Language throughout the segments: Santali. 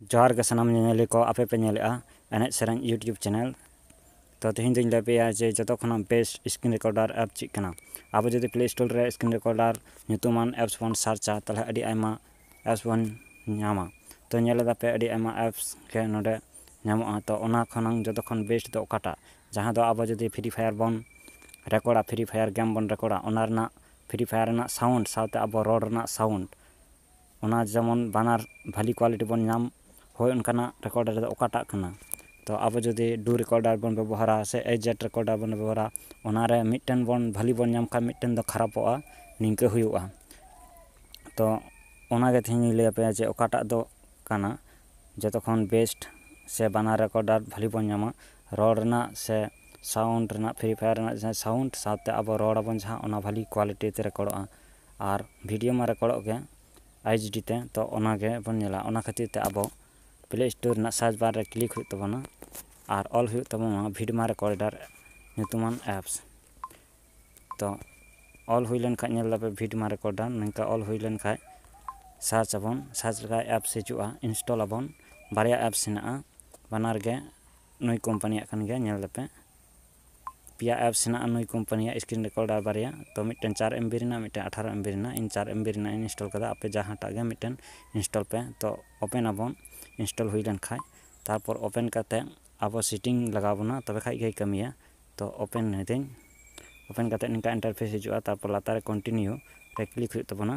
ᱡᱚᱦᱟᱨ ᱜᱮ ᱥᱟᱱᱟᱢ ᱧᱮᱧᱮᱞᱤ ᱠᱚ ᱟᱯᱮ ᱯᱮ ᱧᱮᱞᱮᱜᱼᱟ ᱮᱱᱮᱡ ᱥᱮᱨᱮᱧ ᱤᱭᱩᱴᱩᱵᱽ ᱪᱮᱱᱮᱞ ᱛᱚ ᱛᱮᱦᱮᱧ ᱫᱚᱧ ᱞᱟᱹᱭ ᱯᱮᱭᱟ ᱡᱮ ᱡᱚᱛᱚ ᱠᱷᱚᱱᱟᱜ ᱵᱮᱥᱴ ᱥᱠᱨᱤᱱ ᱨᱮᱠᱚᱨᱰᱟᱨ ᱮᱯ ᱪᱮᱫ ᱠᱟᱱᱟ ᱟᱵᱚ ᱡᱩᱫᱤ ᱯᱞᱮ ᱥᱴᱳᱨ ᱨᱮ ᱥᱠᱨᱤᱱ ᱨᱮᱠᱚᱨᱰᱟᱨ ᱧᱩᱛᱩᱢᱟᱱ ᱮᱯᱥ ᱵᱚᱱ ᱥᱟᱨᱪᱟ ᱛᱟᱦᱚᱞᱮ ᱟᱹᱰᱤ ᱟᱭᱢᱟ ᱮᱯᱥ ᱵᱚᱱ ᱧᱟᱢᱟ ᱛᱚ ᱧᱮᱞ ᱮᱫᱟᱯᱮ ᱟᱹᱰᱤ ᱟᱭᱢᱟ ᱮᱯᱥ ᱜᱮ ᱱᱚᱰᱮ ᱧᱟᱢᱚᱜᱼᱟ ᱛᱚ ᱚᱱᱟ ᱠᱷᱚᱱᱟᱝ ᱡᱚᱛᱚ ᱠᱷᱚᱱ ᱵᱮᱥᱴ ᱫᱚ ᱚᱠᱟᱴᱟᱜ ᱡᱟᱦᱟᱸ ᱫᱚ ᱟᱵᱚ ᱡᱩᱫᱤ ᱯᱷᱨᱤ ᱯᱷᱟᱭᱟᱨ ᱵᱚᱱ ᱨᱮᱠᱚᱨᱰᱟ ᱯᱷᱨᱤ ᱯᱷᱟᱭᱟᱨ ᱜᱮᱢ ᱵᱚᱱ ᱨᱮᱠᱚᱨᱰᱟ ᱚᱱᱟ ᱨᱮᱱᱟᱜ ᱯᱷᱨᱤ ᱯᱷᱟᱭᱟᱨ ᱨᱮᱱᱟᱜ ᱥᱟᱣᱩᱱᱰ ᱥᱟᱶᱛᱮ ᱟᱵᱚ ᱨᱚᱲ ᱨᱮᱱᱟᱜ ᱥᱟᱣᱩᱱᱰ ᱚᱱᱟ ᱡᱮᱢᱚᱱ ᱵᱟᱱᱟᱨ ᱵᱷᱟᱞᱮ ᱠᱚᱣᱟᱞᱤᱴᱤ ᱵᱚᱱ ᱧᱟᱢ ᱦᱳᱭ ᱚᱱᱠᱟᱱᱟᱜ ᱨᱮᱠᱳᱰᱟᱨ ᱫᱚ ᱚᱠᱟᱴᱟᱜ ᱠᱟᱱᱟ ᱛᱚ ᱟᱵᱚ ᱡᱩᱫᱤ ᱰᱩ ᱨᱮᱠᱳᱰᱟᱨ ᱵᱚᱱ ᱵᱮᱵᱚᱦᱟᱨᱟ ᱥᱮ ᱮᱭᱤᱪ ᱡᱮᱴ ᱨᱮᱠᱳᱰᱟᱨ ᱵᱚᱱ ᱵᱮᱵᱚᱦᱟᱨᱟ ᱚᱱᱟᱨᱮ ᱢᱤᱫᱴᱮᱱ ᱵᱚᱱ ᱵᱷᱟᱞᱮ ᱵᱚᱱ ᱧᱟᱢ ᱠᱷᱟᱱ ᱢᱤᱫᱴᱮᱱ ᱫᱚ ᱠᱷᱟᱨᱟᱯᱚᱜᱼᱟ ᱱᱤᱝᱠᱟᱹ ᱦᱩᱭᱩᱜᱼᱟ ᱛᱚ ᱚᱱᱟᱜᱮ ᱛᱮᱦᱮᱧ ᱤᱧ ᱞᱟᱹᱭᱟᱯᱮᱭᱟ ᱡᱮ ᱚᱠᱟᱴᱟᱜ ᱫᱚ ᱠᱟᱱᱟ ᱡᱚᱛᱚ ᱠᱷᱚᱱ ᱵᱮᱥᱴ ᱥᱮ ᱵᱟᱱᱟᱨ ᱨᱮᱠᱳᱰᱟᱨ ᱵᱷᱟᱞᱮ ᱵᱚᱱ ᱧᱟᱢᱟ ᱨᱚᱲ ᱨᱮᱱᱟᱜ ᱥᱮ ᱥᱟᱣᱩᱱᱰ ᱨᱮᱱᱟᱜ ᱯᱷᱨᱤ ᱯᱷᱟᱭᱟᱨ ᱨᱮᱱᱟᱜ ᱡᱟᱦᱟᱸ ᱥᱟᱣᱩᱱᱰ ᱥᱟᱶᱛᱮ ᱟᱵᱚ ᱨᱚᱲ ᱟᱵᱚᱱ ᱡᱟᱦᱟᱸ ᱚᱱᱟ ᱵᱷᱟᱞᱮ ᱠᱚᱣᱟᱞᱤᱴᱤ ᱛᱮ ᱨᱮᱠᱚᱨᱰᱚᱜᱼᱟ ᱟᱨ ᱵᱷᱤᱰᱤᱭᱳ ᱢᱟ ᱨᱮᱠᱚᱨᱰᱚᱜ ᱜᱮ ᱟᱭᱤᱪ ᱰᱤ ᱛᱮ ᱛᱚ ᱚᱱᱟ ᱜᱮ ᱵᱚᱱ ᱧᱮᱞᱟ ᱚᱱᱟ ᱠᱷᱟᱹᱛᱤᱨ ᱛᱮ ᱟᱵᱚ ᱯᱞᱮ ᱥᱴᱳᱨ ᱨᱮᱱᱟᱜ ᱥᱟᱨᱪ ᱵᱟᱨ ᱨᱮ ᱠᱞᱤᱠ ᱦᱩᱭᱩᱜ ᱛᱟᱵᱚᱱᱟ ᱟᱨ ᱚᱞ ᱦᱩᱭᱩᱜ ᱛᱟᱵᱚᱱᱟ ᱵᱷᱤᱰᱢᱟ ᱨᱮᱠᱚᱨᱰᱟᱨ ᱧᱩᱛᱩᱢᱟᱱ ᱮᱯᱥ ᱛᱚ ᱚᱞ ᱦᱩᱭ ᱞᱮᱱᱠᱷᱟᱱ ᱧᱮᱞ ᱫᱟᱯᱮ ᱵᱷᱤᱰᱢᱟ ᱨᱮᱠᱚᱨᱰᱟᱨ ᱱᱚᱝᱠᱟ ᱚᱞ ᱦᱩᱭ ᱞᱮᱱᱠᱷᱟᱱ ᱥᱟᱨᱪ ᱟᱵᱚᱱ ᱥᱟᱨᱪ ᱞᱮᱠᱷᱟᱱ ᱮᱯᱥ ᱦᱤᱡᱩᱜᱼᱟ ᱤᱱᱥᱴᱚᱞ ᱟᱵᱚᱱ ᱵᱟᱨᱭᱟ ᱮᱯᱥ ᱦᱮᱱᱟᱜᱼᱟ ᱵᱟᱱᱟᱨ ᱜᱮ ᱱᱩᱭ ᱠᱳᱢᱯᱟᱱᱤᱭᱟᱜ ᱠᱟᱱ ᱜᱮᱭᱟ ᱧᱮᱞ ᱫᱟᱯᱮ ᱯᱮᱭᱟ ᱮᱯᱥ ᱦᱮᱱᱟᱜᱼᱟ ᱱᱩᱭ ᱠᱳᱢᱯᱟᱱᱤᱭᱟᱜ ᱥᱠᱨᱤᱱ ᱨᱮᱠᱚᱨᱰᱟᱨ ᱵᱟᱨᱭᱟ ᱛᱚ ᱢᱤᱫᱴᱮᱱ ᱪᱟᱨ ᱮᱢ ᱵᱤ ᱨᱮᱱᱟᱜ ᱢᱤᱫᱴᱮᱱ ᱟᱴᱷᱟᱨᱚ ᱮᱢ ᱵᱤ ᱨᱮᱱᱟᱜ ᱤᱧ ᱪᱟᱨ ᱮᱢ ᱵᱤ ᱨᱮᱱᱟᱜ ᱤᱧ ᱤᱱᱥᱴᱚᱞ ᱠᱟᱫᱟ ᱟᱯᱮ ᱡᱟᱦᱟᱸᱴᱟᱜ ᱜᱮ ᱢᱤᱫᱴᱮᱱ ᱤᱱᱥᱴᱚᱞ ᱯᱮ ᱛᱚ ᱳᱯᱮᱱ ᱟᱵᱚᱱ ᱤᱱᱥᱴᱚᱞ ᱦᱩᱭ ᱞᱮᱱᱠᱷᱟᱡ ᱛᱟᱨᱯᱚᱨ ᱳᱯᱮᱱ ᱠᱟᱛᱮᱫ ᱟᱵᱚ ᱥᱮᱴᱤᱝ ᱞᱟᱜᱟᱣ ᱵᱚᱱᱟ ᱛᱚᱵᱮ ᱠᱷᱟᱡ ᱜᱮᱭ ᱠᱟᱹᱢᱤᱭᱟ ᱛᱚ ᱳᱯᱮᱱ ᱮᱫᱟᱹᱧ ᱳᱯᱮᱱ ᱠᱟᱛᱮᱫ ᱱᱤᱝᱠᱟ ᱤᱱᱴᱟᱨᱯᱷᱮᱥ ᱦᱤᱡᱩᱜᱼᱟ ᱛᱟᱨᱯᱚᱨ ᱞᱟᱛᱟᱨ ᱨᱮ ᱠᱚᱱᱴᱤᱱᱤᱭᱩ ᱨᱮ ᱠᱞᱤᱠ ᱦᱩᱭᱩᱜ ᱛᱟᱵᱚᱱᱟ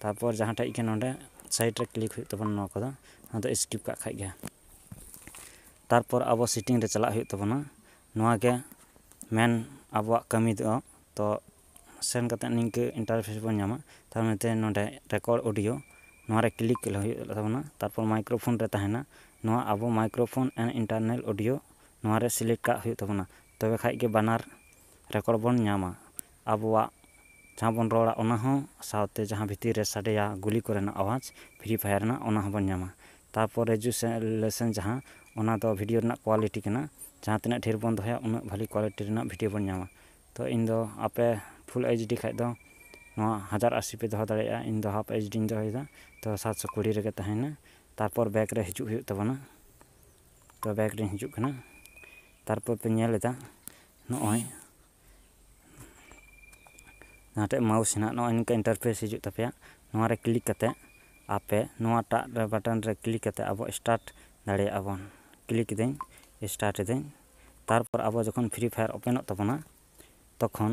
ᱛᱟᱨᱯᱚᱨ ᱡᱟᱦᱟᱸ ᱴᱷᱮᱡ ᱜᱮ ᱱᱚᱰᱮ ᱥᱟᱭᱤᱰ ᱨᱮ ᱠᱞᱤᱠ ᱦᱩᱭᱩᱜ ᱛᱟᱵᱚᱱᱟ ᱱᱚᱣᱟ ᱠᱚᱫᱚ ᱱᱚᱣᱟ ᱫᱚ ᱥᱠᱤᱯ ᱠᱟᱜ ᱠᱷᱟᱡ ᱜᱮ ᱛᱟᱨᱯᱚᱨ ᱟᱵᱚ ᱥᱤᱴᱤᱝ ᱨᱮ ᱪᱟᱞᱟᱜ ᱦᱩᱭᱩᱜ ᱛᱟᱵᱚᱱᱟ ᱱᱚᱣᱟ ᱜᱮ ᱢᱮᱱ ᱟᱵᱚᱣᱟᱜ ᱠᱟᱹᱢᱤ ᱫᱚ ᱛᱚ ᱥᱮᱱ ᱠᱟᱛᱮ ᱱᱤᱝᱠᱟᱹ ᱤᱱᱴᱟᱨᱯᱷᱮᱥ ᱵᱚᱱ ᱧᱟᱢᱟ ᱛᱟᱨ ᱢᱚᱫᱽᱫᱷᱮ ᱱᱚᱰᱮ ᱨᱮᱠᱚᱨᱰ ᱚᱰᱤᱭᱳ ᱱᱚᱣᱟ ᱨᱮ ᱠᱞᱤᱠ ᱦᱩᱭᱩᱜ ᱛᱟᱵᱚᱱᱟ ᱛᱟᱨᱯᱚᱨ ᱢᱟᱭᱠᱨᱳ ᱯᱷᱳᱱ ᱨᱮ ᱛᱟᱦᱮᱱᱟ ᱱᱚᱣᱟ ᱟᱵᱚ microphone and internal audio ᱱᱚᱣᱟ ᱨᱮ ᱥᱤᱞᱮᱠᱴ ᱠᱟᱜ ᱦᱩᱭᱩᱜ ᱛᱟᱵᱚᱱᱟ ᱛᱚᱵᱮ ᱠᱷᱟᱡ ᱜᱮ ᱵᱟᱱᱟᱨ ᱨᱮᱠᱚᱨᱰ ᱵᱚᱱ ᱧᱟᱢᱟ ᱟᱵᱚᱣᱟᱜ ᱡᱟᱦᱟᱸ ᱵᱚᱱ ᱨᱚᱲᱟ ᱚᱱᱟ ᱦᱚᱸ ᱥᱟᱶᱛᱮ ᱡᱟᱦᱟᱸ ᱵᱷᱤᱛᱤᱨ ᱨᱮ ᱥᱟᱰᱮᱭᱟ ᱜᱩᱞᱤ ᱠᱚᱨᱮᱱᱟᱜ ᱟᱣᱟᱡᱽ ᱯᱷᱨᱤ ᱯᱷᱟᱭᱟᱨ ᱨᱮᱱᱟᱜ ᱚᱱᱟ ᱦᱚᱸᱵᱚᱱ ᱧᱟᱢᱟ ᱛᱟᱨᱯᱚᱨ ᱨᱮᱡᱩᱞᱮᱥᱚᱱ ᱡᱟᱦᱟᱸ ᱚᱱᱟ ᱫᱚ ᱵᱷᱤᱰᱤᱭᱳ ᱨᱮᱱᱟᱜ ᱠᱳᱣᱟᱞᱤᱴᱤ ᱠᱟᱱᱟ ᱡᱟᱦᱟᱸ ᱛᱤᱱᱟᱹᱜ ᱰᱷᱮᱨ ᱵᱚᱱ ᱫᱚᱦᱚᱭᱟ ᱩᱱᱟᱹᱜ ᱵᱷᱟᱹᱞᱤ ᱠᱳᱣᱟᱞᱤᱴᱤ ᱨᱮᱱᱟᱜ ᱵᱷᱤᱰᱤᱭᱳ ᱵᱚᱱ ᱧᱟᱢᱟ ᱛᱳ ᱤᱧ ᱫᱚ ᱟᱯᱮ ᱯᱷᱩᱞ ᱮᱭᱤᱪ ᱰᱤ ᱠᱷᱟᱱ ᱫᱚ ᱱᱚᱣᱟ ᱦᱟᱡᱟᱨ ᱟᱹᱥᱤ ᱯᱮ ᱫᱚᱦᱚ ᱫᱟᱲᱮᱭᱟᱜᱼᱟ ᱤᱧ ᱫᱚ ᱦᱟᱯᱷ ᱮᱭᱤᱪ ᱰᱤᱧ ᱫᱚᱦᱚᱭᱮᱫᱟ ᱛᱳ ᱥᱟᱛᱥᱚ ᱠᱩᱲᱤ ᱨᱮᱜᱮ ᱛᱟᱦᱮᱱᱟ ᱛᱟᱨᱯᱚᱨ ᱵᱮᱠ ᱨᱮ ᱦᱤᱡᱩᱜ ᱦᱩᱭᱩᱜ ᱛᱟᱵᱚᱱᱟ ᱛᱳ ᱵᱮᱠ ᱨᱤᱧ ᱦᱤᱡᱩᱜ ᱠᱟᱱᱟ ᱛᱟᱨᱯᱚᱨ ᱯᱮ ᱧᱮᱞ ᱮᱫᱟ ᱱᱚᱜᱼᱚᱭ ᱡᱟᱦᱟᱸᱴᱷᱮᱡ ᱢᱟᱣᱩᱥ ᱦᱮᱱᱟᱜ ᱱᱚᱜᱼᱚᱭ ᱱᱤᱝᱠᱟ ᱤᱱᱴᱟᱨᱯᱷᱮᱥ ᱦᱤᱡᱩᱜ ᱛᱟᱯᱮᱭᱟ ᱱᱚᱣᱟ ᱨᱮ ᱠᱞᱤᱠ ᱠᱟᱛᱮ ᱟᱯᱮ ᱱᱚᱣᱟᱴᱟᱜ ᱨᱮ ᱵᱟᱴᱚᱱ ᱨᱮ ᱠᱞᱤᱠ ᱠᱟᱛᱮ ᱟᱵᱚ ᱥᱴᱟᱨᱴ ᱫᱟᱲᱮᱭᱟᱜᱼᱟ ᱵᱚᱱ ᱠᱞᱤᱠ ᱮᱫᱟᱹᱧ ᱥᱴᱟᱨᱴ ᱮᱫᱟᱹᱧ ᱛᱟᱨᱯᱚᱨ ᱟᱵᱚ ᱡᱚᱠᱷᱚᱱ ᱯᱷᱨᱤ ᱯᱷᱟᱭᱟᱨ ᱳᱯᱮᱱᱚᱜ ᱛᱟᱵᱚᱱᱟ ᱛᱚᱠᱷᱚᱱ